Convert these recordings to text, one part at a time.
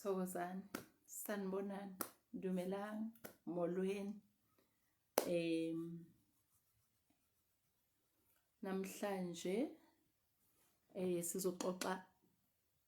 thokozani sanibonani dumelani molweni em namhlanje eh sizoxoxa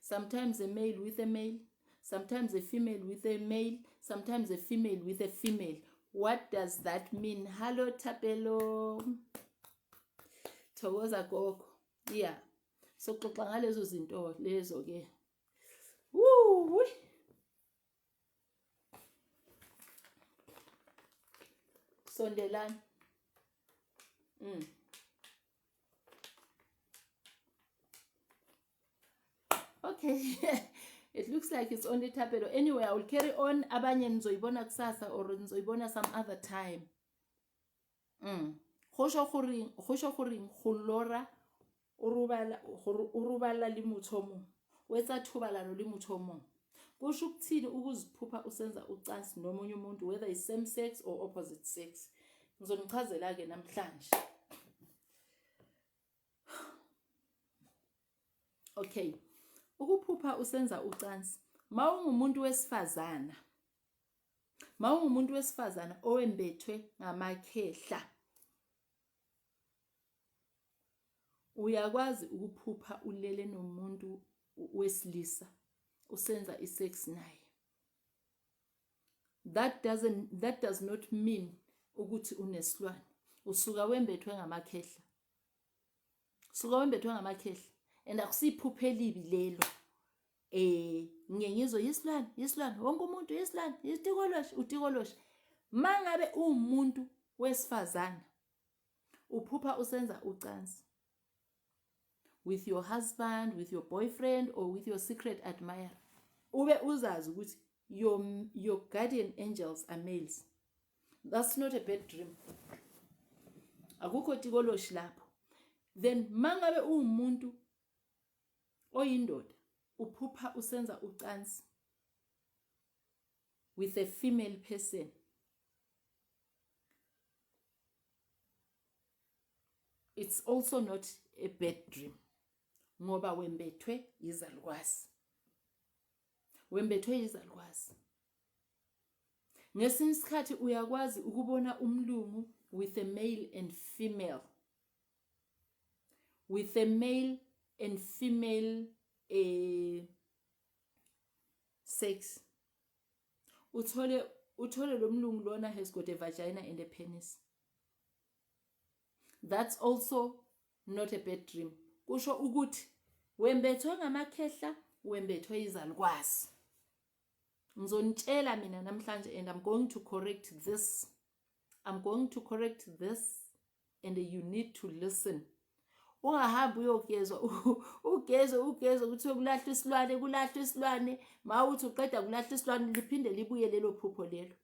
sometimes a male with a male sometimes a female with a male sometimes a female with a female what does that mean hallo thapelo thokoza gogo yeah soxoxa ngalezo zinto lezo ke sondelani mm. okay it looks like it's only tapelo anyway i will carry on abanye nizoyibona kusasa or nizoyibona some other time go sho goreng go sho goreng go lora o robala gore o robala le motho o mongwe o etsa thobalano le motho o mongwe kusho ukuthini ukuziphupha usenza ucansi nomunye umuntu whether is same sex or opposite sex ngizonichazela ke namhlanje okay ukuphupha usenza ucansi mawungumuntu wesifazana mawungumuntu wesifazana owembethwe ngamakhehla uyakwazi ukuphupha ulele nomuntu wesilisa usenza isex naye that doesn't that does not mean ukuthi unesilwane usuka wembethwe ngamakhehla suka wembethwe ngamakhehla and akusiphuphe elibi lelo eh ngiye ngizwe yisilwane yisilwane wonke umuntu yisilwane yitikoloshe utikoloshe mangabe umuntu wesifazana uphupha usenza ucansi with your husband with your boyfriend or with your secret admirer ube uzazi ukuthi your, your guardian angels are males that's not a bad dream akukho tikoloshi lapho then mangabe uwumuntu oyindoda uphupha usenza ucansi with a female person it's also not a bad dream ngoba wembethwe yizalukwazi wembethwe yizalukwazi Ngesinye isikhathi uyakwazi ukubona umlungu with a male and female. With a male and female eh sex. Uthole uthole lo mlungu lona has got a vagina and a penis. That's also not a bad dream. Kusho ukuthi wembethwe ngamakhehla, wembethwe izalukwazi. ngizonitshela mina namhlanje and I'm going to correct this I'm going to correct this and you need to listen ungahambi uyogezwa ugezwe ugezwe ukuthi kulahlwa isilwane kulahlwa isilwane ma uthi uqeda kulahlwa isilwane liphinde libuye lelo phupho lelo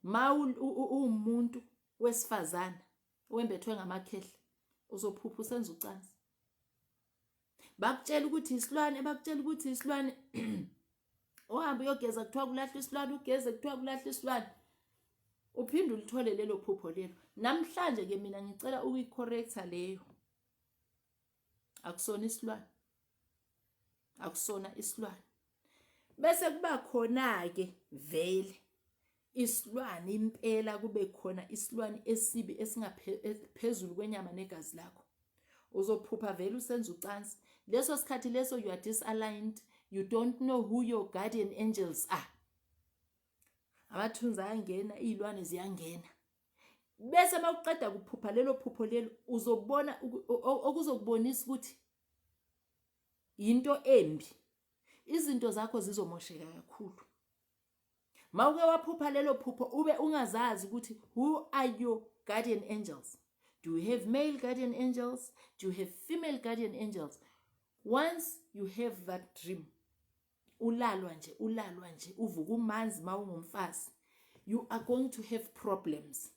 ma uwumuntu wesifazana wembethwe ngamakhehla uzophupha usenza ucansi bakutshela ukuthi isilwane bakutshela ukuthi isilwane ohamba uyogeza kuthiwa kulahla isilwane ugeze kuthiwa kulahla isilwane uphinde ulithole lelo phupho lelo namhlanje ke mina ngicela ukuyicorrecta leyo akusona isilwane akusona isilwane bese kuba khona ke vele isilwane impela kube khona isilwane esibi esingaphezulu e, kwenyama negazi lakho uzophupha vele usenza ucansi leso sikhathi leso you are disaligned you don't know who your guardian angels are amathunzi ayangena iy'lwane ziyangena bese uma uqeda kuphupha lelo phupho lelo uzobona okuzokubonisa ukuthi yinto embi izinto zakho zizomosheka kakhulu Mawuke waphupha lelo phupho ube ungazazi ukuthi who are your guardian angels? Do you have male guardian angels? Do you have female guardian angels? Once you have that dream, ulalwa nje, ulalwa nje, uvuka umanzi mawungumfazi. You are going to have problems.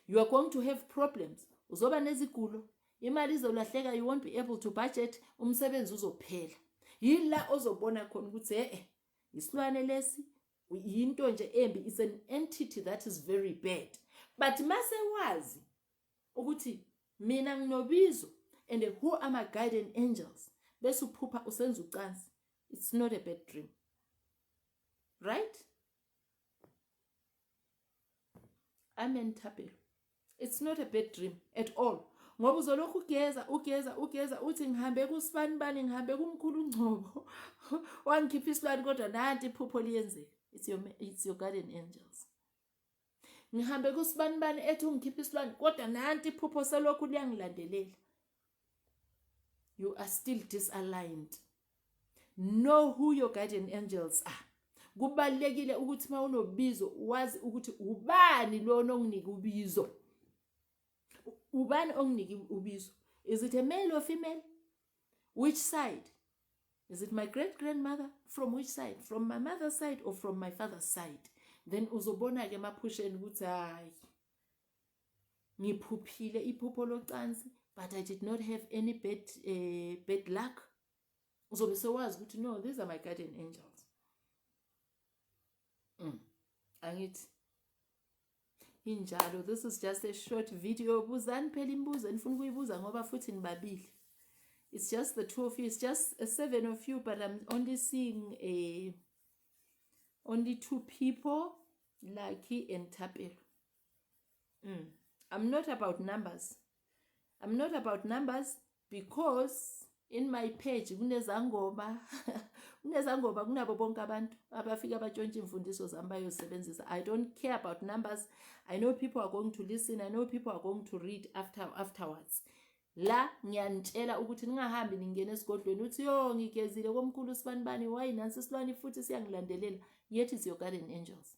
You are going to have problems. Uzoba nezigulo, imali izolahleka, you won't be able to budget, umsebenzi uzophela. Yila ozobona khona ukuthi eh isilwane lesi yinto nje embi is an entity that is very bad but mase wazi ukuthi mina nginobizo and who are my guardian angels bese uphupha usenza ucansi it's not a bad dream right amen thapelo it's not a bad dream at all ngoba uzolokhu ugeza ugeza ugeza uthi ngihambe kusibani bani ngihambe kumkhulu ungcobo wangikhipha isilwane kodwa nanti iphupho liyenzeka it's your, it's your garden angels ngihambe kusibani bani ethi ungikhipha isilwane kodwa nanti iphupho selokhu liyangilandelela you are still disaligned Know who your guardian angels are. Kubalekile ukuthi mawunobizo wazi ukuthi ubani lona onginike ubizo. Ubani onginike ubizo? Is it a male or female? Which side? Is it my great grandmother? From which side? From my mother's side or from my father's side? Then uzobona ke maphusheni ukuthi hayi ngiphuphile iphupho locansi but i did not have any bad, uh, bad luck uzobe sewazi ukuthi no these are my guardian angels mm. angithi injalo this is just a short video buzani phela imibuzo enifuna ukuyibuza ngoba futhi nibabili it's just the two of you it's just a seven of you but i'm only seeing a only two people lucky and tapelo mm. i'm not about numbers i'm not about numbers because in my page kunezangoma kunezangoma kunabo bonke abantu abafika abatshontsha imfundiso zami bayosebenzisa i don't care about numbers i know people are going to listen i know people are going to read after afterwards la ngiyanitshela ukuthi ningahambi ningena esigodlweni uthi yo ngigezile komkhulu sibani bani wayi nansi silwani futhi siyangilandelela yet is your garden angels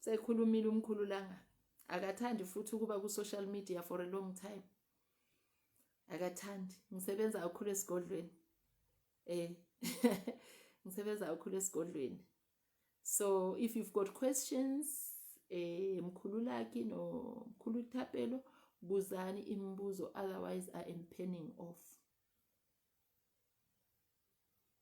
sekhulumile umkhulu langa akathandi futhi ukuba ku social media for a long time akathandi ngisebenza kakhulu esigodlweni eh ngisebenza kakhulu esigodlweni so if you've got questions eh mkhulu laki no mkhulu thapelo buzani imibuzo otherwise i am penning off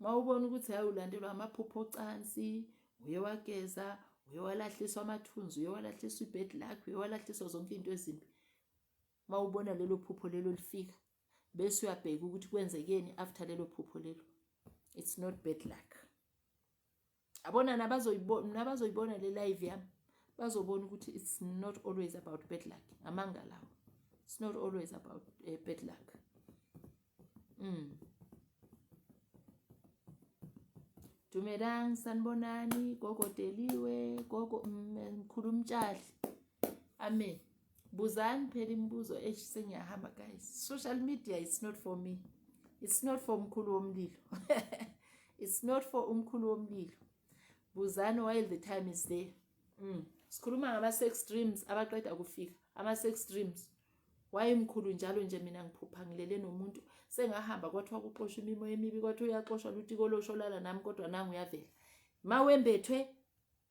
mawubona ukuthi hayi ulandelwa amaphupho ocansi uye wageza uye walahliswa amathunzi uye walahliswa ibed lakho uye walahliswa zonke into ezimbi mawubona lelo phupho lelo lifika bese uyabheka ukuthi kwenzekeni after lelo phupho lelo it's not bad luck abona nabazoyibona le live yami bazobona ukuthi it's not always about bad luck amanga lawo it's not always about uh, bad luck mm. dumelang sanibonani gogo deliwe gogo mm, mkhulu mtshali amen buzani phela imibuzo eish sengiyahamba guys social media it's not for me it's not for umkhulu womlilo it's not for umkhulu womlilo buzani while the time is there mm. sikhuluma ngama-sex dreams abaqeda kufika ama-sex dreams wayemkhulu njalo nje mina ngiphupha ngilele nomuntu sengahamba kwathiwa kuxoshwa imimo emibi kwathiwa uyaxoshwa lutiko losholala nami kodwa nangu uyavela ma wembethwe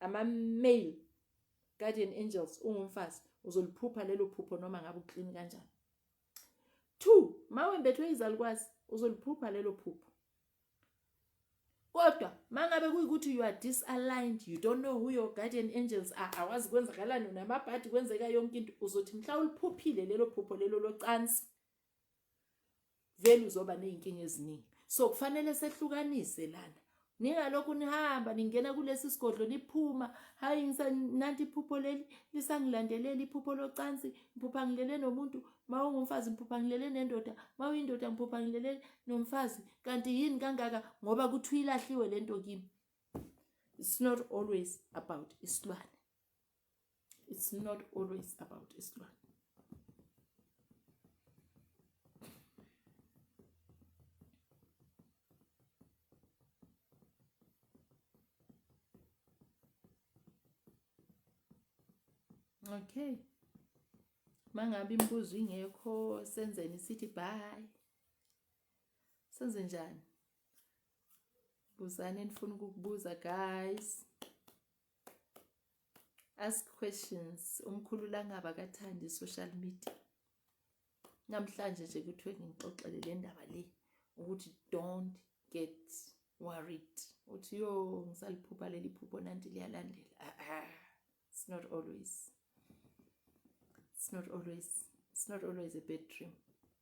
ama-mail Guardian angels ungumfazi uzoliphupha lelo phupho noma ngabe uclean kanjani. 2 mawembethwe izalukwazi uzoliphupha lelo phupho. Kodwa mangabe kuyikuthi you are disaligned, you don't know who your guardian angels are, awazi kwenzakalani namabhadi kwenzeka yonke into, uzothi mhla uliphuphile lelo phupho lelo locansi vele uzoba nezinkinga eziningi so kufanele sehlukanise lana ningalokhu nihamba ningena kulesi sigodlo niphuma hayi nanti iphupho leli lisangilandelela iphupho locansi ngiphupha ngilele nomuntu ma ungumfazi ngiphupha ngilele nendoda ma uyindoda ngiphupha ngilele nomfazi kanti yini kangaka ngoba kuthiwa ilahliwe le nto kimi it's not always about isilwane it's not always about isilwane okay mangabe imibuzo ingekho senzeni sithi bye senze njani buzani enifuna ukukubuza guys ask questions umkhulu langaba kathandi social media namhlanje nje kuthiwe ngixoxele le ndaba le ukuthi don't get worried uthi yo ngisaliphupha leli phupho nanti liyalandela ah, ah. it's not always it's not always it's not always a bad dream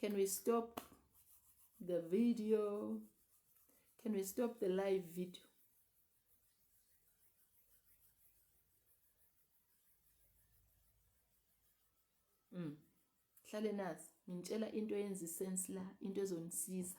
Can we stop the video? Can we stop the live video? Mm. Hlale nazi, ngintshela into yenza isense la, into ezonisiza.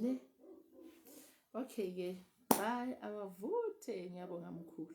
ne okay ke bye awavuthe ngiyabonga mkhulu